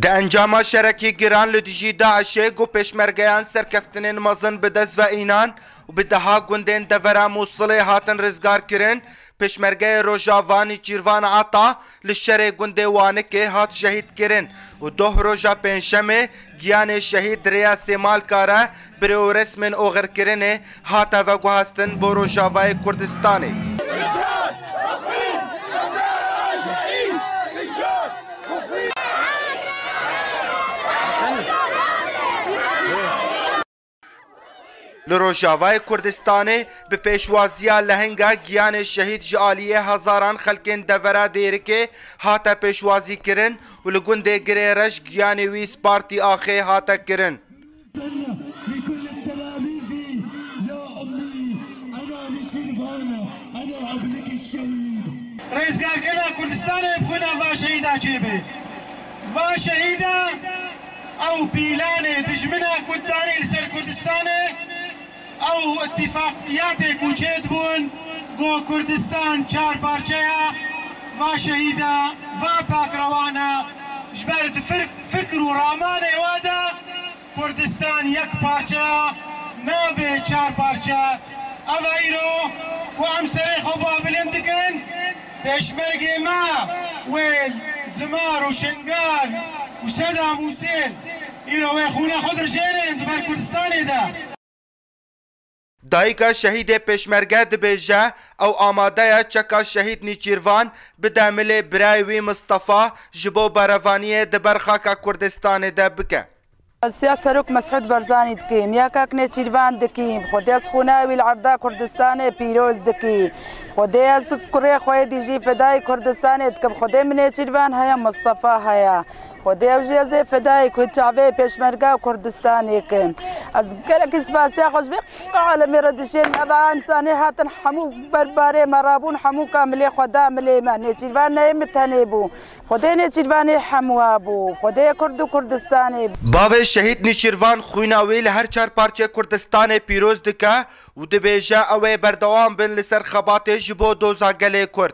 Di encama şerekî giran li dijî DAIŞ'ê ku pêşmergeyan serkeftinên mezin bi dest ve înan û bi deha gundên devera Mûsilê hatin rizgarkirin, pêşmergeyê Rojava Nîçîrvan Ata li şerê gundê Wanikê hat şehîdkirin û doh roja pêncşemê giyanê şehîd di rêya Sêmalka re bi rê û resmên oxirkirinê hate veguhestin bo Rojavayê Kurdistanê. Li Rojavayê Kurdistanê bi pêşwaziya lehinga giyanê şehîd ji aliyê hezaran xelkên devera Dêrikê hate pêşwazîkirin û li gundê Girê Reş giyanê wî spartî axê hate kirin. Rêzgirkirina Kurdistanê bi xwîna van şehîdan çêbe. Va şehîda ew pîlanê dijmina xweddarî li ser Kurdistanê ew îtîfaqiyatê ku çêdibûn ku Kurdistan çar parçe ya, va şehîda va pakrewana ji ber di fikr û ramanê we de, Kurdistan yek parçeya nabe çar parçe. Ev e îro ku em serê xwe babilind dikin, pêşmergê me wêl, zimar û şingal û sedam husên îro wê xûna xwe dirijêrin di ber kurdistanê de. Dayika şehîdê Pêşmerge dibêje, ew amade ye çeka şehîd Nîçîrvan bide milê birayê wî Mistefa ji bo berevaniyê di ber xaka Kurdistanê de bike. Rasiya Serok Mesûd Barzanî dikîm, ya kak Nêçîrvan dikîm, xwedê ez xûna wî li erda Kurdistanê pîroz dikîm, xwedê ez kurê xwe yê dijî fedayê Kurdistanê dikim, xwedê min Nêçîrvan heye, Mistefa heye, Xwedê ew jî ez ê feda ê ku çavê Pêşmerga û Kurdistanê kim. Ez gelekî spasiya xwe ji vê alemê re dişêrim. Ev a însanê hatin hemû ber barê me re bûn, hemû ka milê xwe da milê me. Nêçîrvan ne yê min tenê bû. Xwedê Nêçîrvan ê hemû a bû. Xwedê Kurd û Kurdistanê. Bavê Şehîd Nîçîrvan xwîna wî li her çar parçeyê Kurdistanê pîroz dike û dibêje ew ê berdewam bin li ser xebatê ji bo doza gelê Kurd.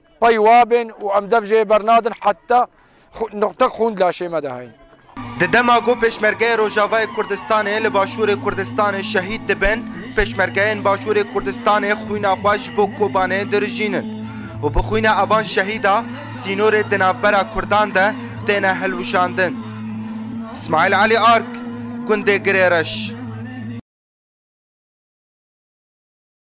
Pey wa bên û em dev jê bernadin heta nuqtek xûn di laşê me de heye. Di dema ku Pêşmergeyê Rojavayê Kurdistanê li Başûrê Kurdistanê şehîd dibin, pêşmergeyên Başûrê Kurdistanê xwîna xwe ji bo Kobanê dirijînin û bi xwîna evan şehîda sînorê di navbera Kurdan de têne hilwijandin. Smaîl Elî Ark, Gundê Girêreş.